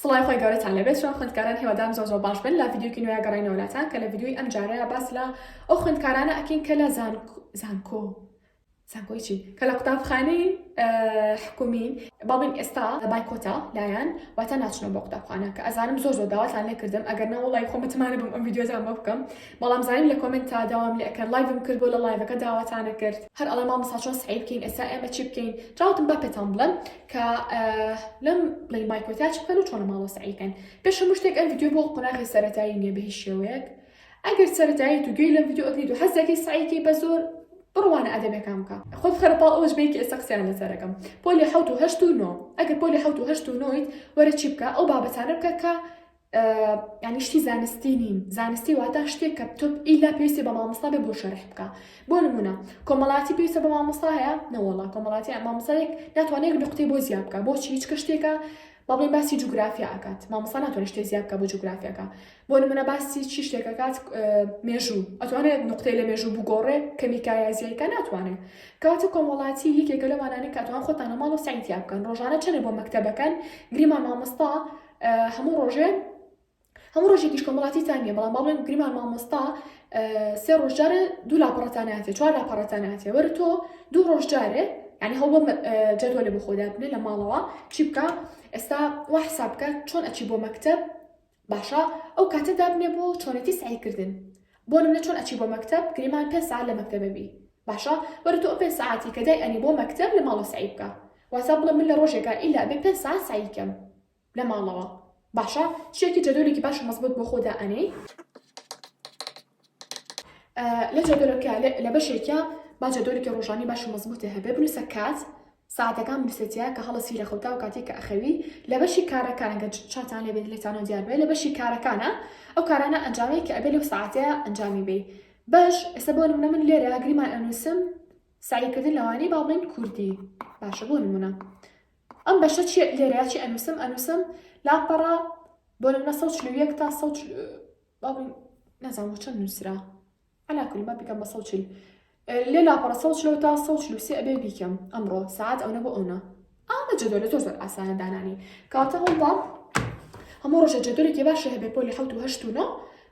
سڵای خوای گەورەتان لێ بێت ژان خوێندکاران هیوادارم زۆر زۆر باش بن لە ڤیدیۆکی نوێیا گەڕێنەوە لاتان کە لە ڤیدیۆی ئەم جارەیا باس لە ئەو خوێندکارانە ئەکەین کە لە زانکۆ زانکۆ زانکۆی چی کە لە قوتابخانەی حکومین بابین ئێستا بایکۆتا لایەن واتە ناچنەوە بۆ قوتابخانە کە ئەزانم زۆر زۆر داواتان لێ کردم ئەگەر نەوەڵی خۆ متمانە بم ئەم ڤیددیوزان بۆ بکەم بەڵام زانیم لە کۆمنت تا داوام لە ئەکەن لایڤم کرد بۆ لە لایڤەکە داواتانە کرد هەر ئەڵە مامەسا چۆن سعی بکەین ئێستا ئێمە چی بکەین جاوتم با پێتان بڵێم کە لەم لەی مایکۆتیا چ بکەن و چۆنە ماڵۆ سعی بکەن پێش هەموو شتێک ئەم ڤیددیو بۆ قۆناغی سەرەتایی نیە بە هیچ شێوەیەک ئەگەر سەرەتایی تو گوێی لەم ڤیددیو ئەگریت و حەزەکەی سعیکەی بە زۆر بڕوانە ئەدەبەکان بکە خۆت خەرە پاڵ ئەوەش بێکی ئێستا قسەیان لەسەرەکەم پۆلی حەوت و هەشت و نۆ ئەگەر پۆلی حەوت و هەشت و نۆیت وەرە چی بکە ئەو بابەتانە بکە کە یانی شتی زانستی نین زانستی واتا شتێک کە تۆ ئیلا پێویستی بە مامۆستا بێ بۆ شەرح بکە بۆ نمونە کۆمەڵاتی پێویستە بە مامۆستایە نەوەڵا کۆمەڵاتی مامۆسایەک ناتوانێت نقطەی بۆ زیاد بکە بۆچی هیچ کە شتێکە بەڵێ باسی جوگرافیا ئەکات مامۆستا ناتوانێت شتێک زیاد بکە بۆ جوگرافیاکە بۆ نمونە باسی چی شتێکەکات مێژوو ئەتوانێت نقطەی لە مێژوو بگۆڕێ کەمیکایە زیایکە ناتوانێت کاتە کۆمەڵاتی یەکێکە لەوانانە کاتوان خۆتانە ماڵ و سعیتیا بکەن ڕۆژانە چەنێ بۆ مەکتتەبەکەن گریمان مامۆستا هەموو ڕۆژێ هەموو ڕۆژێکیش کۆمەڵاتی تان نیە بەڵام باڵێن گریمان مامۆستا سێ ڕۆژجارێ دوو لاپەڕەتاناتێ چوار لاپەڕەتاناتێ وەر تۆ دوو ڕۆژجارێ ینی هەڵ جەدوە لە بخۆدابنێ لە ماڵەوە چی بکە ئێستا وا حساب بکە چۆن ئەچی بۆ مەکتب باشە ئەو کاتە دابنێ بۆ چۆنێتی سعیکردن بۆ نمونە چۆن ئەچی بۆ مەکتەب گریمان پێنج سەعات لە مەکتەبە بی باشە وەرە تۆ ئەو پێنج سەعاتی کە دای ئەنی بۆ مەکتەب لە ماڵەوە سەعی بکە واتە بڵێ من لە ڕۆژێکا ئیلا ئەبێ پێنج سەعات سەعی کەم لە ماڵەوە باشە شتێکی جەدۆلێکی باش و مەزبوط بۆ خۆ دا ئەنێی لە جەدۆلەکە لە بەشێکە با جەدۆلێکی ڕۆژانی باش و مەزبوطێ هەبێ بنووسە کات سەعاتەکان برسێتیە کە هەڵەسی رێکخەوتاو کاتێک کە ئەخەوی لە بەشی کارەکانە گەر چاتان لێ بێت لێتانەوە دیار بێت لە بەشی کارەکانە ئەو کارانە ئەنجامەی کە ئەبێ لەو سەعاتەیە ئەنجامی بەی بەش ئێستا بۆ نمونە من لێرە گریمان ئەنووسم سەعی کردن لەوانەی با بڵێن کوردی باشە بۆ نمونە ئەم بەشە چی لێرە چی ئەنووسم ئەنووسم لاپەڕە بۆ نمونە سەد و چل و یەک تا سەد و چل- با بڵێن نازانم بۆ چەند نووسرا عەلا کول من بیکەم بە سەد و چل لێ لاپەڕە سەد و چلەوە تا سەد و چل و سێ ئەبێ بیکەم ئەمڕۆ ساعەت ئەونە بۆ ئەونە ئامە جەدۆلە زۆر زۆر ئاسانە دانانی کاتە هەوڵدە هەموو ڕۆژە جەدۆلێکی باشە هەبێ پۆلی حەوت و هەشت و نۆ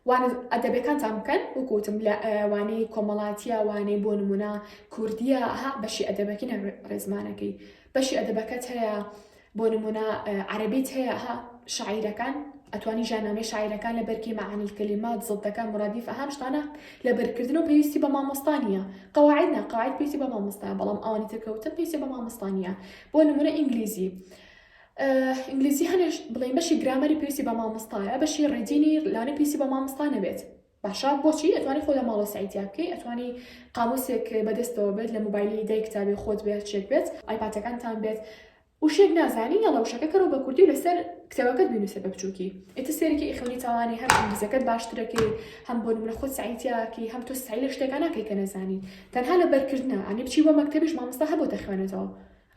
وانە ئەدەبەکانتان بکەن وکوتم لە وانەی کۆمەڵاتیە وانەی بۆ نمونە کوردیە ها بەشی ئەدەبەکینە ڕێزمانەکەی بەشی ئەدەبەکەت هەیە بۆ نمونە عەرەبیت هەیە ها شاعیرەکان ئەتوانی ژانامەی شاعیرەکان لە بەرکی مەعانی کەلیمات زڵتەکە مرادیف ئەهام شتانە لە بەرکردن و پێویستی بە مامۆستانیە قواعد نا قواعد پێویستی بە مامۆستایە بەڵام ئەوانی ترکەوتن پێویستی بە مامۆستانیە بۆ نمونە ئینگلیزی ئینگلیزی هەنێش بڵێن بەشی گرامەری پێویستی بە مامۆستایە بەشی ڕێدینی لانە پێویستی بە مامۆستا نەبێت باشە بۆچی ئەتوانی خۆ لە ماڵەوە سەعی تیا بکەی ئەتوانی قاموسێک بەدەستەوە بێت لە موبایلی دای کتابی خۆت بێ هەرچێک بێت ئایپاتەکانتان بێت وشێک نازانی یەڵە وشەکە کەرەوە بە کوردی و لەسەر کتێبەکەت بینوسە بە بچووکی ئێتە سێرێکی ئیخوانی تاوانی هەر ئینگلیزەکەت باشترەکەی هەم بۆ نمرە خۆت سەعیتیاکی هەم تۆ سەعی لە شتێکە ناکەی کە نەزانی تەنها لە بەرکردنە ئەنی بچی بۆ مەکتەبیش مامۆستا هەبۆتە خوێنێتەوە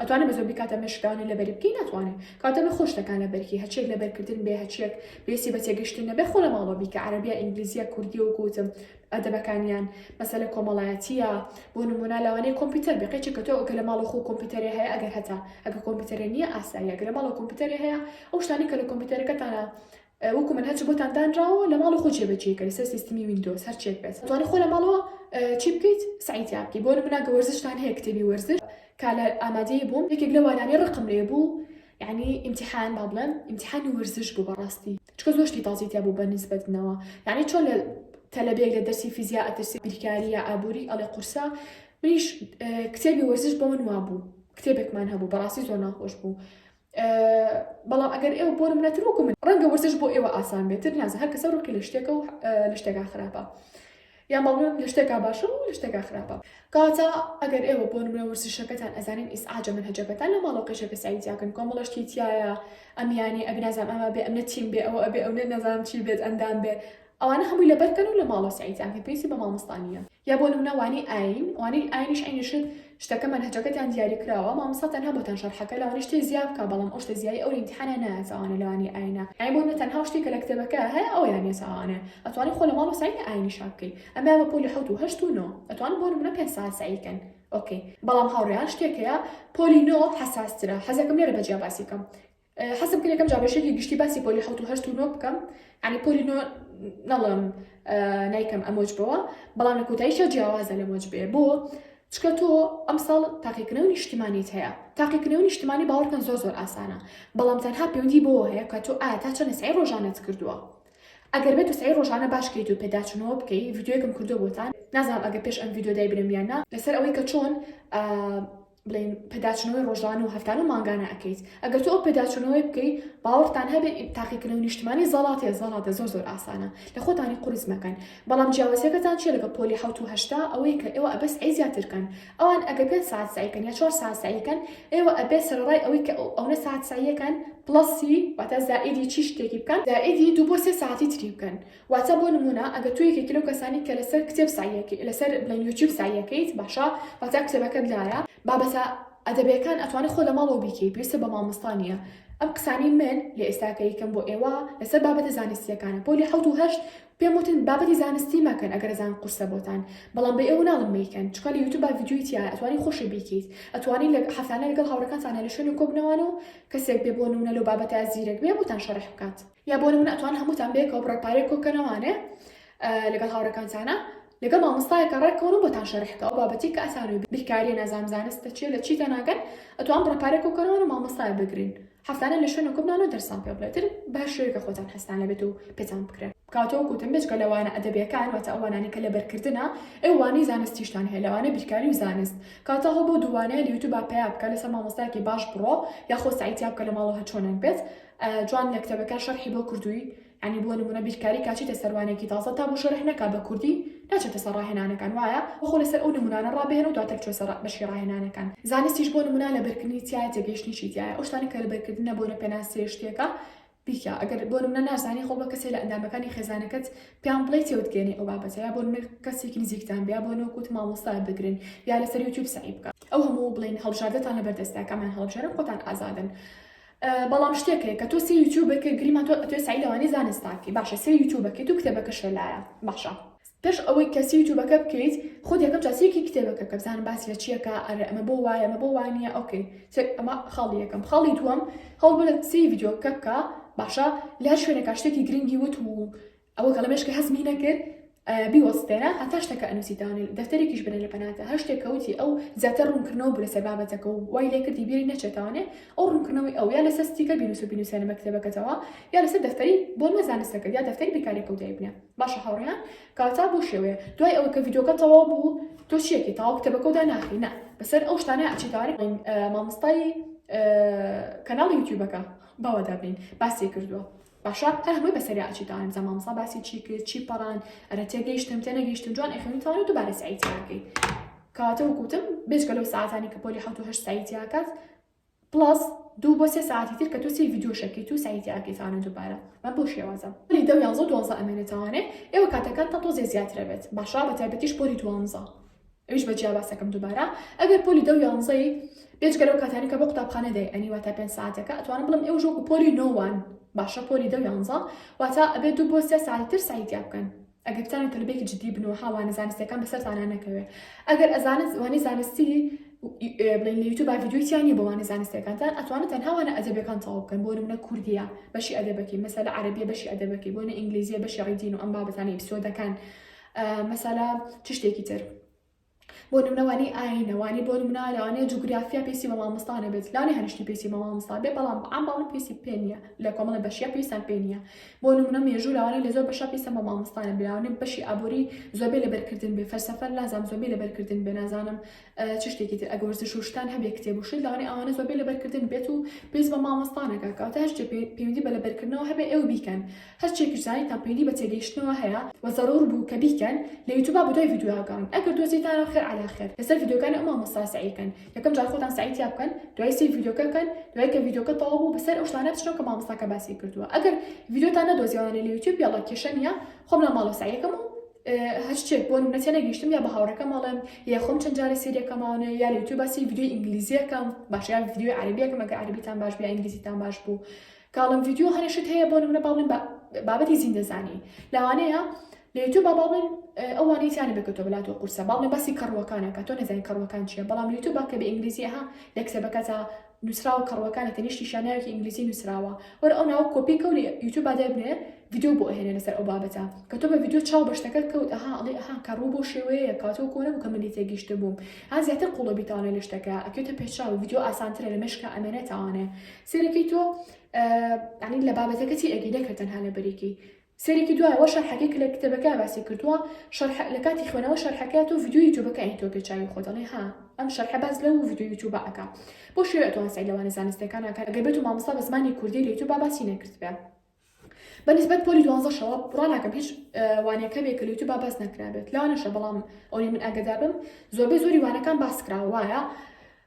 ئەتوانێ بە زۆربی کاتە مێشک دانێ لەبەری بکەی ناتوانێ کاتە مێ خۆش دەکا لەبەرکی هەچیەک لەبەر کردن بێ هەچیەک پێویستی بە تێگەشتن نەبێ خۆ لە ماڵەوە بیکە عەرەبیە ئینگلیزیە کوردیە وەکو وتم ئەدەبەکانیان مەسەلە کۆمەڵایەتیە بۆ نموونە لەوانەیە کۆمپیوتەر بێ قەیچێ کە تۆ کە لە ماڵە خۆ کۆمپیوتەرێ هەیە ئەگەر هەتا ئەگە کۆمپیوتەرێ نییە ئاساییە گەر لە ماڵەوە کۆمپیوتەرێ هەیە ئەو شتانەی کە لە کۆمپیوتەرەکەتانە وەکو من هەرچی بۆتان دانراوە لە ماڵ خۆ جێبەجێکە لەسەر سیستمی ویندۆز هەرچێک بێت توانێت خۆ لە ماڵەوە چی بکەیت سعیتیا بکەی بۆ منە گە وەرزشتان هەیە کتێبی وەرزش کا لە ئامادەی بووم یەکێک لە وانانەی ڕقم لێ بوو یعنی امتحان با بڵێم امتحانی وەرزش بوو بەڕاستی چکە زۆر شتی تازی تیا بوو بە نسبەتنەوە یعنی چۆن لە تەلەبێک لە دەرسی فیزیا ئەترسی بیرکاری یا ئابووری ئەڵێ قورسە منیش کتێبی وەرزش بۆ من وابوو کتێبێکمان هەبوو بەڕاستی زۆر ناخۆش بوو بەڵام ئەگەر ئێوە بۆ منەتر وەکو من ڕەنگە وەرزش بۆ ئێوە ئاسان بێتتر نازە هەر کەسە ڕووکی لە شتێکە و لە شتێکا خراپە یان بەڵم لە شتێکا باشە و لە شتێکا خراپە کاتە ئەگەر ئێوە بۆ منە وەرزشەکەتان ئەزانین ئیس ئاجە من هەجەکەتان لە ماڵەوە قیشەکە سایتیاکەن کۆمەڵشتی تایە ئەمیانی ئەبنازان ئەمە بێ ئەمە تیم بێ ئەوە ئەبێ ئەو نە نەزانام چی بێت ئەندام بێ ئەوانە هەمووی لە بەرکەن و لە ماڵە سایتیان کە پێویستی بە مامۆستانیە یا بۆ نمونە وانەی ئاین وانەی ئاینیش عەینی شت شتەکە مەنهەجەکەتان دیاری کراوە مامۆستا تەنها بۆتان شەرحەکە لەوانەیە شتێ زیا بکا بەڵام ئەو شتە زیای ئەو لە ئیمتیحانا نایەت ئەوانە لەوانەی ئاینە یانی بۆ نمونە تەنها ئەو شتەی کە لە کتێبەکە هەیە ئەویان نیە ساوانە ئەتوانن خۆ لە ماڵ و سەعی ئاینی شا بکەی ئەمەیان بە پۆلی حەوت و هەشت و نۆ ئەتوانن بۆ نمونە پێنج سەعات سەعی کەن ئۆکەی بەڵام هاوڕێیان شتێک هەیە پۆلی نۆ حەساس ترە حەزەکەم لێرە بە جیا باسی کەم حەزم کرد یەکەم جار بە شێکی گشتی باسی پۆلی حەوت و هەشت و نۆ بکەم عنی پۆلی نۆ نەڵم نایکەم ئەمۆج بەوە بەڵام لە کۆتاییشە جیاوازە لە مۆج بێ بۆ چکە تۆ ئەمساڵ تاقیکردنەوە نیشتمانیت هەیە تاقیکردنەوە نیشتمانی باوەڕکەن زۆر زۆر ئاسانە بەڵام تەنها پەیوەندی بۆ هەیە کە تۆ ئایا تا چەند سعی ڕۆژانت کردووە ئەگەر بێت سعی ڕۆژانە باشکەیت و پێداچنەوە بکەی یددیوەکەم کردو بۆتان نازانم ئەگە پێش ئەم یددیو دای برمیانە لەسەر ئەوەی کە چۆن بڵێن پێداچونەوەی ڕۆژانە و هەفتانە و مانگانە ئەەکەیت ئەگەر تۆ ئەو پێداچونەوەی بکەی باوەڕتان هەبێت تاقیکردنەوە نیشتمانی زەڵاتێ زەڵاتە زۆر زۆر ئاسانە لە خۆتانی قرس مەکەن بەڵام جیاوازەکەتان چێ لەگە پۆلی حوت و هەشتا ئەوەی کە ئێوە ئەبەس ئەی زیاترکەن ئەوان ئەگە پێ ساعت سعیکەن یا چوار ساعت سعیکەن ئێوە ئەبێ سەرڕای ئەوەی کە ئەوە ساعت سعیەکەن پڵسی واتە زائیدی چی شتێکی بکەن زائیدی دوو بۆ سێ ساعتی تری بکەن واتە بۆ نموونە ئەگەر تۆ یەکێکی لەو کەسانیت کە لەسەر کتێب سەعی یەکەی لەسەر بڵێن یوتیوب سەعی یەکەیت باشە واتە کتێبەکەت لایە بابەتە ئەدەبیەکان ئەتوانی خۆ لە ماڵەوە بیکەی پێویستە بە مامۆستا نیە ئەم قسانەی من لە ئێستا کە یکەم بۆ ئێوە لەسەر بابەتە زانستیەکانە پۆلی حەوت و هەشت پێم وتن بابەتی زانستی مەکەن ئەگەر ئەزان قورسە بۆتان بەڵام بە ئێوە ناڵم مەیکەن چونکە لە یوتیوب ڤیدیۆی تیایە ئەتوانی خۆشی بیکەیت ئەتوانی لە هەفتانە لەگەڵ هاوڕێکانتانە لە شوێنێک کۆ بنەوانەوە کەسێک بێ بۆ نموونە لەو بابەتە زیرەک بێ بۆتان شەرح بکات یا بۆ نمونە ئەتوان هەمووتان بەیەکەوە بڕە پارەی کۆکەنەوانێ لەگەڵ هاوڕەکانتانە لەگەڵ مامۆستایەکە ڕێککەون و بۆتان شەرحکە ئەو بابەتی کە ئەسانوی بیرکاریە نازام زانستە چیە لە چی تەناگەن ئەتوان بڕە پارەی کۆکەنەوەن و مامۆستای بگرین هەفتانە لە شوێنە کۆبنان و دەرسان پێ بڵێتر بە شوێکە خۆتان هەستان لەبێت و پێتان بکرێت کاتەوە کوتم بێچکە لەوانە ئەدەبیەکان واتە ئەوانانی کە لەبەرکردە ئەوانی زانستیشتان هەیە لەوانە بیرکاری و زانست کاتە هەبوو دووانەیە لە یوتوب پیا بکە لەسەر مامۆستایکی باش بڕۆ یاخۆ سایتیا بکە لە ماڵەوە چۆنێک بێت جوان لە کتێبەکە شەرحی بۆ کردووی ینی بۆ نمونە بیرکاری کاچیتە سەروانێکی تازە تا بۆ شەرح نەکا بە کوردی ناچێتە سەر ڕاهێنانەکان وایە خۆ لەسەر ئەو نمونانە ڕابێنە و دواتر چوە سەر بەشی ڕاهێنانەکان زانستیش بۆ نمونا لە بەرکردنی تایە تێگەیشتنیشی تایە ئەو شتانە کە لە بەرکردنە بۆ نە پێناسەیە شتێکە بیکە ئەگەر بۆ نمونە نازانی خۆ بە کەسێ لە ئەندامەکانی خێزانەکەت پێیان بڵێ تێوتگەێنی ئەو بابەتە یا بۆ نمونە کەسێکی نزیکتان بیا بۆ نۆکوت مامۆستا بگرن یا لەسەر یوتیوب سەعی بکە ئەو هەموو بڵێن هەڵبژاردەتان لەبەردەستە کامیان هەڵبژێرن خۆتان ئازادن بەڵام شتێک هەیە کە تۆ سێ یوتیوبەر کە گریمان تۆ ئەتوێ سەعی لەوانی زانست تاکی باشە سێ یوتیوبەکەیت و کتێبەکەشە لایە باشە پێش ئەوەی کە سی یوتیوبەکە بکەیت خۆ یەکەم جا سێکی کتێبەکە کە بزانم باس لە چیەکە ئەرێ ئەمە بۆ وایە ئەمە بۆ وانە ئۆکەی ئەمە خاڵی یەکەم خاڵی دووەم هەوڵ بە لە سی یددیوکە بکە باشە لە هەر شوێنێکا شتێکی گرنگی وت و ئەوە کە ڵەمێشکە هەزمی نەکرد بیوەستێنە هەتا شتەکە ئەنووسیدانێ دەفتەرێکیش بنێ لە پەناتە هەر شتێک کەوتی ئەو زیاتر ڕوونکردنەوە بوو لەسەر بابەتەکە و وای لێ کردی بیری نەچێتانێ ئەو ڕوونکردنەوەی ئەو یا لەسەر ستیکە بینوس و بینوسێنە مەکتەبەکەتەوە یا لەسەر دەفتەری بۆ مەزانستەکە یا دەفتەری بیرکارێکە و دایبنە باشە هاوڕیان کاتا بۆ شێوەیە دوای ئەوە کە یددیوکە تەواو بوو تۆ چیەکی تاوا کتەبەکەدا ناخی نە بەسەر ئەو شتانە ئەچیتاری مامۆستای کەناڵی یوتیوبەکە باوەدابین باسی کردووە باشە ئەش بۆی بەسەریا ئەچیت ئەڵێن جا مامۆسا باسی چی کرد چی پەڕاند ئەرە تێگەیشتم تێنەگەیشتم جوان ئەخوێنی تەواوی دووبارە سەعی تیا بکەیت کەواتە وکوتم بێجگە لەو ساعتانی کە پۆلی حەوت و هەشت سەعی تیا کات پڵەس دوو بۆ سێ ساعتی تر کە تۆ سێ ڤیدیۆ شەکەیت و سەعی تیا بکەیت تەوانە دووبارە بە بۆ شێوازە پۆلی دە و یانزە و دوانزە ئەمێنێ تەوانێ ئێوە کاتەکانتان تۆزێ زیاترە بێت باشە بە تایبەتیش پۆلی دوانزە ئەویش بە جیا باس دەکەم دووبارە ئەگەر پۆلی دە و یانزەی بێجگە لەو کاتانەی کە بۆ قوتابخانە دەی ئەنی واتە پێنج ساعەتەکە ئەتوانم بڵێم ئێوەش وەکو پۆلی نۆ وان باشە پۆلی دە و یانزە واتە ئەبێ دوو بۆ سێ ساعەتی تر سەعی تیا بکەن ئەگەر بتانن تەلبەیەکی جددی بن و ها وانە زانستییەکان بەسەرتانا نەکەوێ ئەگەر ئەزانت وانەی زانستی بڵێن لە یوتیوب ڤیدیۆی تیا نییە بۆ وانە زانستییەکانتان ئەتوانن تەنها وانە ئەدەبیەکان تەواو بکەن بۆ نمونە کوردییە بەشی ئەدەبەکەی مەسەلە عەرەبییە بەشی ئەدەبەکەی بۆ نە ئینگلیزییە بەشی ڕیدین و ئەم بابەتانەی ئیپسۆدەکان مەسەلا چ شتێکی تر بۆ نمونە وانی ئاینە وانی بۆ نمونە لەوانەیە جوگرافیا پێسی بە مامۆستانە بێت لاێ هەنیشتی پێسی بە مامۆستا بێ بەڵام ئەم باڵ پێسی پێ نیە لە کۆمەڵە بەشیا پێویستان پێ نیە بۆ نمونە مێژوو لەوانەیە لە زۆر بەشە پێسە بە مامۆستانە بلاونێ بەشی ئابووری زۆربەی لەبەرکردن بێ فەرسەفەر لازام زۆربەی لەبەرکردن بێ نازانم چ شتێکی تر ئەگە وەرزش و شتان هەبێ کتێب و شت لەوانەیە ئەوانە زۆربەی لەبەرکردن بێت و پێویست بە مامۆستا نەکا کە واتە هەر شتێ پێ- پەیوەندی بە لەبەرکردنەوە هەبێ ئێوە بیکەن هەر چێکیش زانیتان پەیوەندی بە تێگەیشتنەوە هەیە و زەرور بوو کە بیکەن لە یوتوبا بە دوای ڤیدیۆ گەڕن ئەگەر دۆزیتانەوە خێر عەلا خێر لەسەر ڤیدیۆکانی ئەو مامۆستا سەعی کەن یەکەم جار خۆتان سەعی تیا بکەن دوای سەیر ڤیدیۆکە بکەن دوای کە ڤیدیۆکە تەواو بوو بەسەر ئەو شتانە بچنەوە کە مامۆستاکە باسی کردووە ئەگەر ڤیدیۆتان نەدۆزیەوانە لە یوتیوب یەڵا کێشە نییە خۆم لە ماڵەوە سەعی ئەکەم و هەر شتێک بۆ نمونە تێنەگەیشتم یا بە هاوڕێکەم ئەڵێم یا خۆم چەند جارێ سەیری ئەکەم ئەوانە یا لە یوتیوب باسی ڤیدیۆی ئینگلیزی ئەکەم باشە یا ڤیدیۆی عەرەبی ئەکەم ئەگەر عەرەبیتان باش بێ یا ئینگلیزیتان باش بوو کە ئەڵێم ڤیدیۆ هەنێ شت هەیە بۆ نمونە با بڵێم بابەتی زیندەزانی لەوانەیە لە یوتیوب با بڵێن ئەوانەی تیانە بێت کە تۆ بەلات و قورسە باڵێ باسی کەڕووەکانە کە تۆ نەزانین کەڕووەکان چییە بەڵام لە یوتیوب با کە بە ئینگلیزیە ها لە کتێبەکەتە نوسراوە کەڕوەکانی تەنیشتیشیان ناوێکی ئینگلیزی نوسراوە وەرە ئەو ناوە کۆپی کەو لە یوتوب با دەربنێ ڤیدیۆ بۆ ئەهێنێ لەسەر ئەو بابەتە کە تۆ بە ڤیدیۆ چاو بە شتەکەت کەوت ئەها ئەڵێ ئەها کەڕوو بەو شێوەیەیە کەوا تۆ کۆنە بوو کە منی تێگیشت بووم ها زیاتر قوڵە بیتاوانێ لە شتەکە ئەکەوێتە پێشچاو ڤیدیۆ ئاسانترە لە مێشکا ئەمێنێتاوانێ سەیرەکەی تۆ یانی لە بابەتەکەتی ئەگی نەکرد تەنها لەبەریکی سەیرێکی دوایەوە شەرحەکەی کە لە کتێبەکە باسی کردووە شەرح لە کاتی خوێنەوە شەرحەکە تۆ ڤیدیۆ یوتوبەکانی تۆ پێ چاوی خۆت ئەڵێ ها ئەم شەرحە باس لەو ڤیدیۆ یوتوبە ئەکا بۆ شێوەیە تۆ هەسای لەوانە زانستەکان ئەکات ئەگەر بێتو مامۆستا بە زمانی کوردی لە یوتوبا باسی نەکردبێ بە نسبەت پۆلی دوانزەشەوە بڕا ناکەم هیچ وانەکە بێ کە لە یوتوبا باس نەکرابێت لەوانەشە بەڵام ئەوەی من ئاگدابم زۆربەی زۆری وانەکان باس کراوە وایە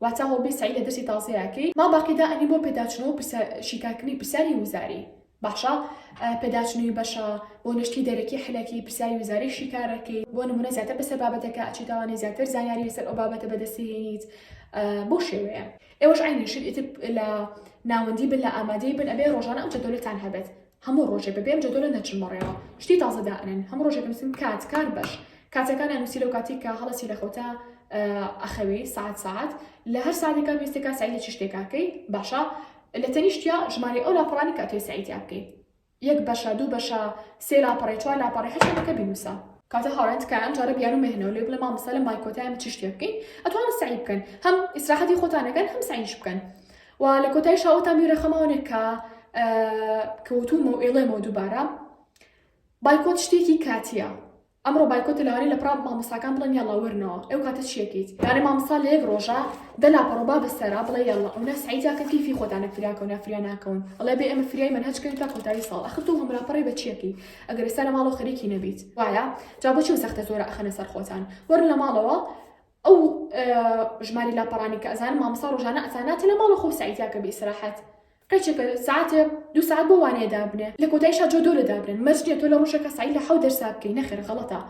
واتا هەوڵبەی سەعی لە دەرسی تازەیا کەی مام باقی دا ئەنی بۆ پێداچنەوە پرسیا شیکار کردنی پرسیاری وزاری باشە پێداچنوی بەشە بۆ نشتی دەرەکی حلەکی پرسیاری وزاری شیکارەکەی بۆ نمونە زیاتر بەسەر بابەتەکە ئەچی تاوانەی زیاتر زانیاری لەسەر ئەو بابەتە بەدەسیێنیت بۆ شێوەیە ئێوەش عینی شت ئیتر لە ناوەندی بن لە ئامادەی بن ئەبێ ڕۆژانە ئەو جەدۆلەتان هەبێت هەموو ڕۆژێ بەبێ ئەم جەدۆلە نەچن بەڕێوە شتی تازە دائەنێن هەموو ڕۆژێ بنوسن کات کار بەش کاتەکانیان نوسی لەو کاتی کە هەڵەسی لە خەوتا ئەخەوی سعات سعات لە هەر ساعتێکا وێستێکا سعی لە چ شتێکاکەی باشە لە تەنیشتیا ژمارەی ئەو لاپەڕانی کە تۆی سعیتیا بکەی یەک بەشە دوو بەشە سێ لاپەڕی چوار لاپەڕی هەر شتێکەکە بینوسە کاتە هاوڕێن تکایە ئەم جارە بیانو مەهێنەوە لێ بڵێ مامۆستا لە مای کۆتایە من چ شتێ بکەین ئەتوانن سەعی بکەن هەم ئیسراحەتی خۆتان ئەکەن هەم سەعیش بکەن و لە کۆتایش هاوتان بیرە خەماوەێک کە کەوتومە و ئێڵێمەوە دووبارە بایکۆت شتێکی کاتیە ئەمڕۆ بایکۆت لەوانێ لە پراب مامۆساکان بڵێن یاڵا وەرنەوە ئەو کاتە چیەکەیت یارە مامسا لە یەک ڕۆژە دەلا پەڕۆبا بەسەرا بڵێ یاڵا ئەو نە سعیداکە کیفی خۆتانە فریاکە و نافریا ناکەون ئەڵێ بێ ئەمە فریای من هەچکەوی تا کۆتایی ساڵ ئەخر تۆ هەمرا پڕی بە چیەکەی ئەگەر سەر ماڵەوە خەریکی نەبیت وایە جا بۆچی و سەختە زۆرە ئەخەنە سەر خۆتان وەرن لە ماڵەوە ئەو ژماری لاپەڕانی کە ئەزانم مامسا ڕۆژانە ئەساناتە لە ماڵە خۆ سعیدیاکە بی سراحەت قەیچەکە ساعتە دو ساعت بۆ وانەیە دابنێ لە کۆتای شا جۆدۆ لە دابنێن مەرجنیە تۆ لە ڕۆژێکە سعی لە حەو دەرسا بکەی نەخێر غەڵەتە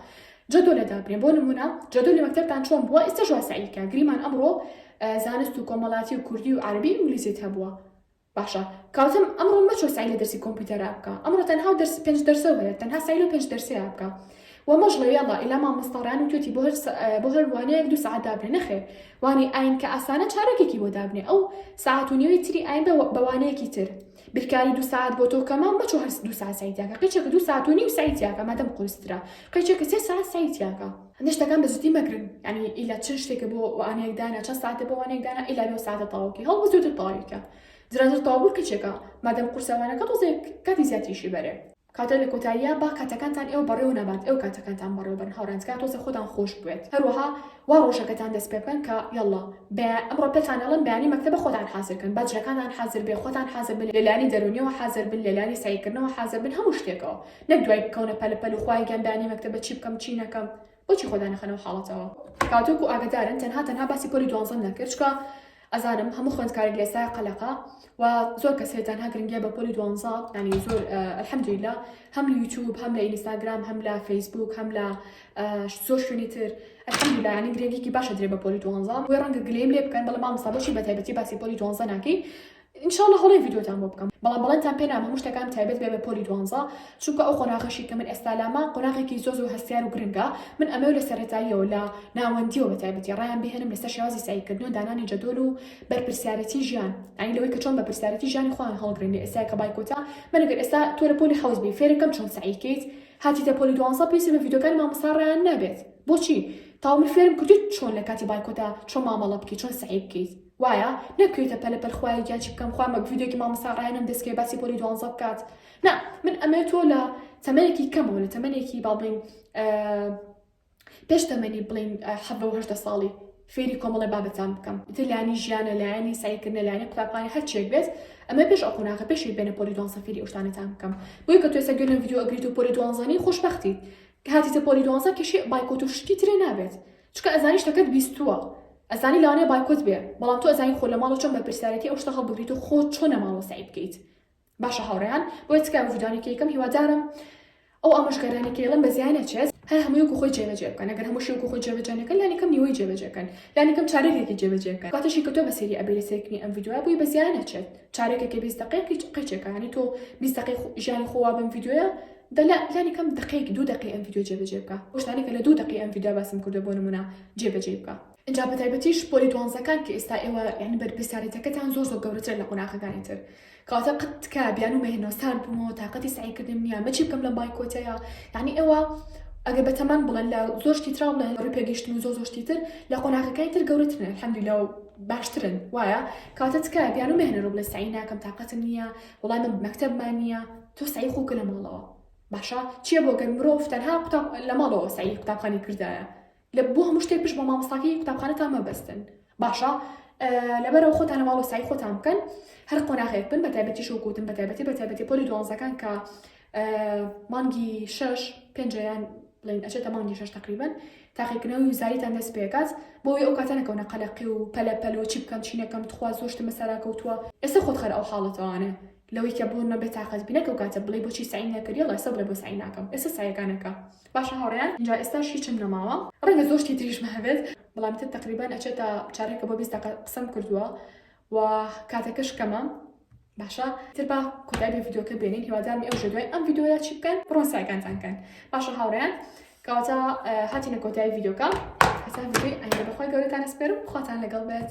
جۆدۆ لە دابنێ بۆ نمونە جۆدۆ لە مەکتەبتان چۆن بووە ئێستا ژوا سعیکە گریمان ئەمڕۆ زانست و کۆمەڵاتی و کوردی و عربی و ئینگلیزیت هەبووە باشە کاتم ئەمڕۆ مەچۆ سەعی لە دەرسی کۆمپیوتەرا بکە ئەمڕۆ تەنها و دەرسی پێنج دەرسەو هەیە تەنها سەعی لەو پێنج دەرسەیا بکە و مەژڵێ یەڵا ئیلا مامۆستا ڕیان وتوێتی بۆ هەر بۆ هەر وانەیەک دوو سەعات دابنێ نەخێر وانەی ئاین کە ئاسانە چارەکێکی بۆ دابنێ ئەو سەعات و نیوەی تری ئاین بە وانەیەکی تر بیرکاری دو ساعت بۆ تۆ کەمە مەچۆ هەر دو ساعت سەعی تیاکە قەیچێکە دو ساعت و نیو سەعی تیاکە مادەم قورسترە قەیچێکە سێ ساعت سەعی تیاکە هەندێ شتەکان بە جدی مەگرن یعنی ئیلا چ شتێکە بۆ وانەیەک دانا چە ساعتە بۆ وانەیەک دانا ئیلا بۆ ساعتە تەواوکەی هەڵ بزوتر تەواویکە درازر تەواو کچێکە مادەم قورسەوانەکە تۆزێک کاتی زیاتریشی بەرێ کاتە لە کۆتاییە با کاتەکانتان ئێوە بەڕێو نەبات ئەو کاتەکانتان بەڕێو بن هاورانتکە تۆزە خۆتان خۆش بێت هەروەها وا ڕۆژەکەتان دەست پێ بکەن کە یاڵا بە ئەمڕۆ پێتانەڵن بەیانی مەکتەبە خۆتان حازرکەن باجەکانان حازر بێ خۆتان حازر بن لەلانی دەرونیەوە حازر بن لەلانی سعیکردنەوە حازر بن هەموو شتێکەوە نەک دوای بکەونە پەلە پەل و خوایە گیان دانی مەکتەبە چی بکەم چی نەکەم بۆچی خۆ دانەخەنە ئەو حاڵەتەوە تاوەکو ئاگەدارن تەنها تەنها باسی پۆلی دوانزەم نەکرد چکە ئەزانم هەموو خوێندکارێک لە ئێستا قەلەقە و زۆر کەس هەیە تەنها گرنگیە بە پۆلی دوانزە ینی زۆر الحەمدللە هەم لە یوتیوب هەم لە ئینستاگرام هەم لە فەیسبوک هەم لە زۆر شوێنی تر الحەمدللە ینی گرنگیکی باشە درێ بە پۆلی دوانزە بۆی ڕەنگە گلەیم لێ بکەن بەڵام مامۆستا بۆچی بە تایبەتی باسی پۆلی دوانزە ناکەی ان شاء اللە هەوڵێ ڤیدیۆتان بۆ بکەم بەڵام بەڵێنتان پێ نام هەموو شتەکان تایبەت بێ بە پۆلی دوانزە چونکە ئەو قۆناغەشی کە من ئێستا لامە قۆناغێکی زۆر زۆر هەستیار و گرنگە من ئەمەو لە سەرەتاییەوە لە ناوەندیەوە بە تایبەتی ڕایان بهێنم لەسەر شێوازی سەعیکردن و دانانی جەدۆل و بەرپرسیارەتی ژیان ئەی لەوەی کە چۆن بەرپرسیارەتی ژیانی خۆیان هەڵگرن لە ئێستا کە بایکۆتە من ئەگەر ئێستا تۆ لە پۆلی حەوت بی فێرەکەم چۆن سەعیکەیت هاتیتە پۆلی دوانزە پێویستە بە ڤیدیۆکانی مامۆستا ڕایان نابێت بۆچی تاوە من فێرم کردوویت چۆن لە کاتی بایکۆتە چۆن مامەڵە بکەیت چۆن سەعی بکەیت وایە نە کوێتە پەلە پەل خوایە گیان چی بکەم خوا مە ڤیدیۆکی مامۆستا ڕەیانم دەست کرد باسی پۆلی دوانزە بکات نا من ئەمەوێت تۆ لە تەمەنێکی کەمەوە لە تەمەنێکی با بڵێین پێش تەمەنی بڵێین حەڤە و هەشتە ساڵی فێری کۆمەڵی بابەتان بکەم تر لایانی ژیانە لایانی سایکردنە لایانی قوتابخانە هەرچێک بێت ئەمە پێش ئەو قۆناغە پێشی بێنە پۆلی دوان سەفیری ئەوشتانەتان بکەم بۆی کە توێسە گوێنە ڤیدیۆ ئەگریت و پۆلی دوانزانی خۆشببختی هاتیتە پۆلی دوانزە کەشی بایکۆت و شتی ترێ نابێت چکە ئەزانی شتەکەت بیستووە ئەزانی لەوانەیە بایکۆت بێ بەڵام تۆ ئەزانی خۆ لە ماڵەوە چۆن بەرپرسیارێتی ئەو شتە هەڵبگریت و خۆ چۆن لە ماڵەوە سەعی بکەیت باشە هاوڕێیان بۆیە تکایە بە ڤیدیۆیانێک یەکەم هیوادارم ئەو ئامۆژگاریانەی کە ئێڵم بە زیای نەچێت هەر هەمووی وەکو خۆی جێبەجێ بکەن ئەگەر هەمووشی وەکو خۆی جێبەجێ نەکەن لانی کەم نیوەی جێبەجێ کەن لانی کەم چارەکێکی جێبەجێ بکەن کاتەشی کە تۆ بە سەیری ئەبێ لە سەیرکردنی ئەم ڤیدیۆیە بووی بە زیای نەچێت چارەکێکی بیست دقەیەکی قەیچێکە یانی تۆ بیست دقەی ژیانی خۆوا بەم ڤیدیۆیە دە لە لانی کەم دەقەیەک دوو دەقەی ئەم ڤیدیۆ جێبەجێ بکە بۆ شتانێکە لە دوو دەقەی ئەم ڤیدیۆ باسم کردوە بۆ نمونە جێبەجێی بکە. ئینجا بە تایبەتیش پۆلی دوانزەکان کە ئێستا ئێوە یانی بەرپرسیارێتەکەتان زۆر زۆر گەورەترە لە قۆناغەکانی تر کەواتە قەت تکایە بیانوو مەهێنەوە سارد بوومەوە تاقەتی سەعیکردنم نییە ئەمە چی بکەم لەم بایکۆتەیە یانی ئێوە ئەگەر بە تەمان بڵێن لە زۆر شتی تراو بڵێن ڕووی پێگەیشتن و زۆر زۆر شتی تر لە قۆناغەکانی تر گەورەترن الحەمدللە و باشترن وایە کەواتە تکایە بیانوو مەهێنەرەوە بڵێ سەعی ناکەم تاقەتم نییە وڵای من مەکتەبمان نییە تۆ سەعی خۆکە لە ماڵەوە باشە چیە بۆ گەر مرۆڤ تەنها قوتاب لە ماڵەوە سەعی قوتابخانی کردایە لە بۆ هەموو شتێک پشت بە مامۆستاکەی قوتابخانەتان مەبەستن باشە لەبەرەوە خۆتان لە ماڵەوە سەعی خۆتان بکەن هەر قۆناغێک بن بە تایبەتی شەو گوتن بە تایبەتی بە تایبەتی پۆلی دوانزەکان کە مانگی شش پێنجیان بڵین ئەچێتە مانگی شش تقریبن تاقیکردنەوەی زاریتان دەست پێکات بۆی ئەو کاتەنەکەونە قەلەقی و پەلە پەلۆچی بکەم چینەکەم تخوا زۆشتمە سەراکەوتووە ئێستا خۆت خەر ئەو حاڵەتەوانێ لەوەی کە بۆ نەبێ تاقەت بینەک ئەو کاتە بڵێی بۆچی سەعیم نەکردی اللە سە بڵێ بۆ سەعی ناکەم ئێستا سەعیەکان ئەکا باشە هاوڕێیان ئینجا ئێستاش هیچم نەماوە ڕەنگە زۆر شتی تریشم هەبێت بەڵام تە تەقریبان ئەچێتە چارەکە بۆ بیست دەقە قسەم کردووە و کاتەکەش کەمە باشە تر با کۆتای بە ڤیدۆکە بێنین هیوادارمی ئەو ژێدوای ئەم ڤیدۆیە چی بکەن بڕۆن سایکانتان کەن باشە هاوڕێیان کەواتە هاتینە کۆتای ڤیدۆکە هەسا ڤیدۆی ئەنگە بەخوای گەورەتان ئەسپێرم خواتان لەگەڵ بێت